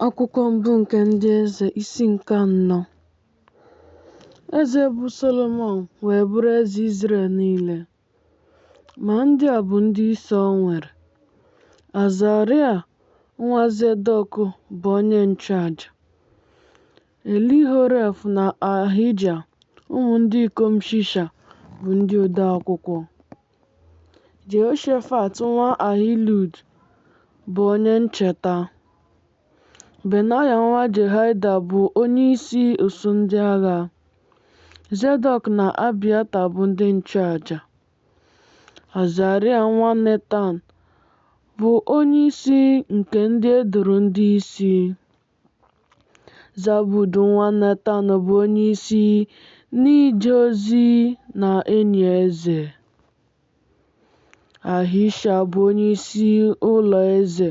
Akwụkwọ mbụ nke ndị eze isi nke anọ Eze bụ Solomọn wee bụrụ eze Izrel niile. Ma ndị a bụ ndị isi o nwere. Azaria nwa Zedọk bụ onye nchụaja. Elihoref na Ahija ụmụ ndị ikom Shisha bụ ndị odeakwụkwọ. Jehoshafat nwa Ahilud bụ onye ncheta. Benaya nwa Jehoiada bụ onye isi usuu ndị agha. Zedọk na Abiata bụ ndị nchụaja. Azaria nwa Netan bụ onye isi nke ndị e doro ndị isi. Zabud nwa Netan bụ onyeisi n'ije ozi na enyi eze. Ahisha bụ onyeisi ụlọ eze.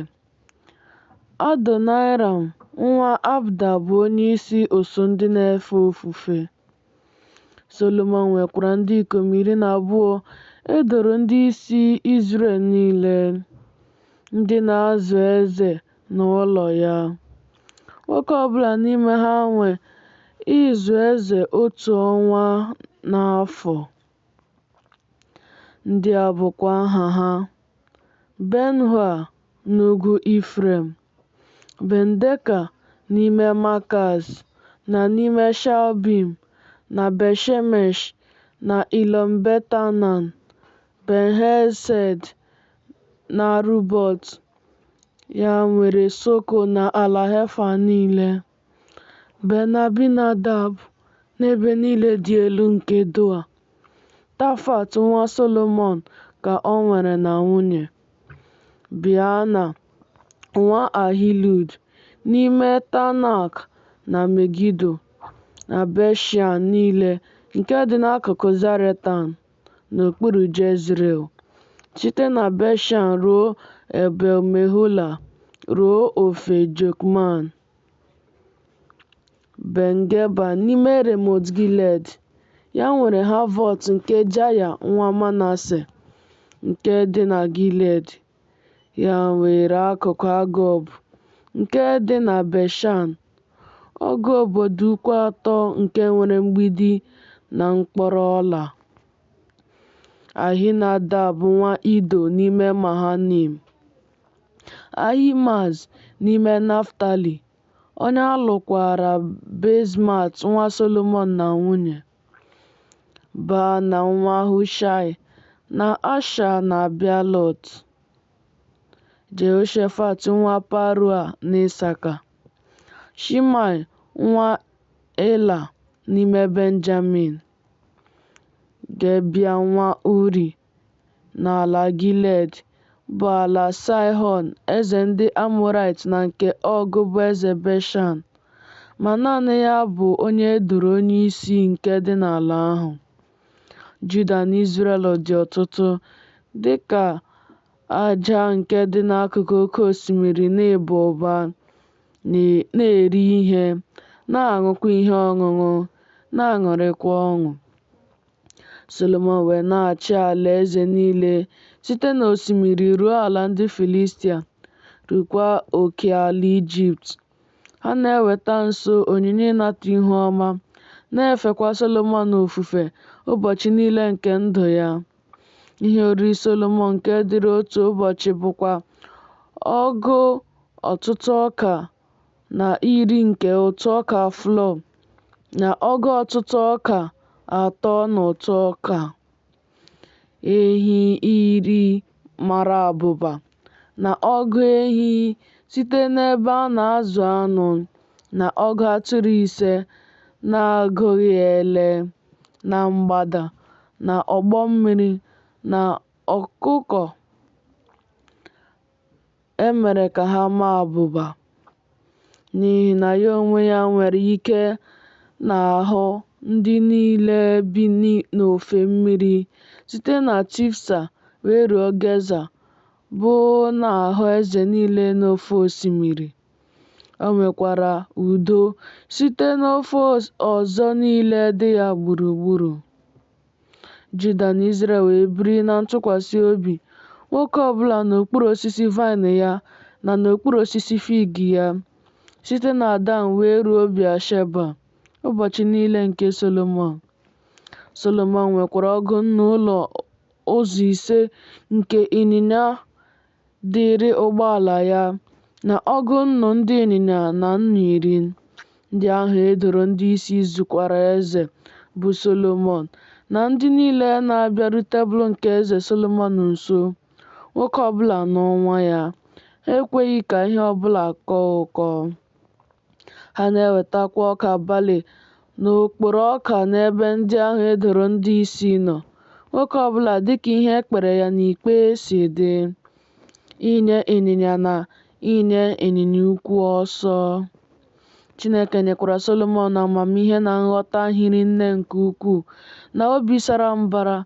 Adoniram nwa Abda bụ onyeisi usuu ndị na-efe ofufe. Solomọn nwekwara ndị ikom iri na abụọ e doro ndị isi Izrel niile, ndị na-azụ eze na ụlọ ya. Nwoke ọ bụla n'ime ha nwe ịzụ eze otu ọnwa n'afọ. Ndị a bụkwa aha ha, Ben-hua n'ugwu Ifrem, Ben-deka n'ime Makaz, na n'ime Shalbim, na Bet-shemesh, na Ilọm-bet-anan, Ben-hesed, n'Arubọt, ya nwere Soko na ala Hefa niile. Ben-Abinadab n'ebe niile dị elu nke Doa. Tafat nwa Solomọn ka o nwere na nwunye. Biana nwa Ahilud n'ime Tanak na Megido na Bet-shean niile nke dị n'akụkụ Zaretan n'okpuru Jezril, site na Bet-shean ruo Ebel-Mehola ruo ofe Jokman. Ben Geba n'ime Remot Gilead, ya nwere Havọt nke Jaya nwa Manase nke dị na Gilead, ya nwere akụkụ Agob nke dị na Beshan, ọgụ obodo ukwu atọ nke nwere mgbidi na mkpọrọ ọla. Ahinadab nwa Ido n'ime Mahanaim. Ahimaaz n'ime Naftalị, onye a lụkwaara Basemat nwa Solomọn na nwunye, Baana nwa Hushaị, na Asha na Bealot, Jehoshafat nwa Parua n'Isaka, Shimei nwa Ela n'ime Benjamin, Gebea nwa Uri N'ala Gilead, bụ ala Saịhọn eze ndị Amọraịt na nke Ọg bụ eze Beshan, ma naanị ya bụ onye e doro onyeisi nke dị n'ala ahụ. Juda na Izrel dị ọtụtụ, dị ka aja nke dị n'akụkụ oke osimiri n'ịba ụba, na-eri ihe, na-aṅụkwa ihe ọṅụṅụ, na-aṅụrịkwa ọṅụ. Solomọn wee na-achị alaeze niile site n'osimiri ruo ala ndị Filistia, rukwa oke ala Ijipt. Ha na-eweta nso onyinye ịnata ihu ọma, na-efekwa Solomọn ofufe ụbọchị niile nke ndụ ya. Ihe oriri Solomọn nke dịrị otu ụbọchị bụkwa ọgụ ọtụtụ ọka na iri nke ụtụ ọka flour na ọgụ ọtụtụ ọka atọ na ụtụ ọka ehi iri mara abụba na ọgụ ehi site n'ebe a na-azụ anụ na ọgụ atụrụ ise na-agụghị ele na mgbada na ọgbọ mmiri na ọkụkọ e mere ka ha maa abụba n'ihi na ya onwe ya nwere ike n'ahụ ndị niile bi n'ofe mmiri site na Tifsa wee ruo Geza, bụ n'ahụ eze niile n'ofe osimiri. O nwekwara udo site n'ofe ọzọ niile dị ya gburugburu. Juda na Izrel wee biri na ntụkwasị obi, nwoke ọ bụla n'okpuru osisi vaịn ya na n'okpuru osisi fig ya, site na Dan wee ruo Bịasheba, ụbọchị niile nke Solomọn. Solomọn nwekwara ọgụ nnu ụlọ ụzọ ise nke ịnyịnya dịịrị ụgbọala ya na ọgụ nnu ndị ịnyịnya na nnu iri ndị ahụ e doro ndị isi zụkwara eze bụ Solomọn na ndị niile na-abịaru tebụl nke eze Solomọn nso, nwoke ọbụla n'ọnwa ya. Ha ekweghị ka ihe ọbụla kọọ ụkọ. Ha na-ewetakwa ọka balị na okporo ọka n'ebe ndị ahụ e doro ndị isi nọ, nwoke ọ bụla dịka ihe e kpere ya n'ikpe si dị, inye ịnyịnya na inye ịnyịnya ukwu ọsọ. Chineke nyekwara Solomọn amamihe na nghọta hiri nne nke ukwuu na obi sara mbara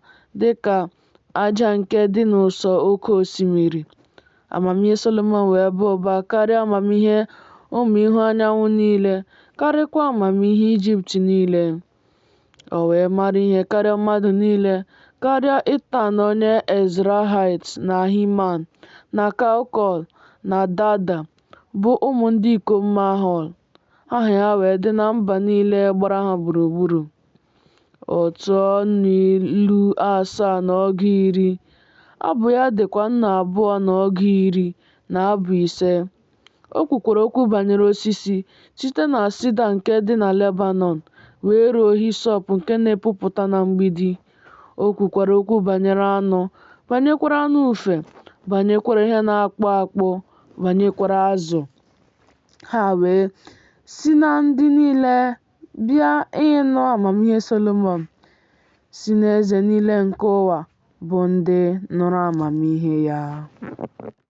dị ka Aja nke dị n'ụsọ oke osimiri. Amamihe Solomọn wee baa ụba karịa amamihe ụmụ ihu anyanwụ niile, karịkwa amamihe Ijipt niile. O wee mara ihe karịa mmadụ niile, karịa Itan onye Ezrahait na Himan na Kalkol na Dada, bụ ụmụ ndị ikom Mahol. Aha ya wee dị na mba niile gbara ha gburugburu. Ọ tụọ nnụ ilu asaa na ọgụ iri, abụ ya dịkwa nnụ abụọ na ọgụ iri na abụ ise. O kwukwara okwu banyere osisi site na sida nke dị na Lebanọn wee ruo hisọp nke na-epupụta na mgbidi. O kwukwara okwu banyere anụ, banyekwara anụ ufe, banyekwara ihe na-akpụ akpụ, banyekwara azụ. Ha wee si na ndị niile Bịa ịnụ amamihe Solomọn si n'eze niile nke ụwa bụ ndị nụrụ amamihe ya.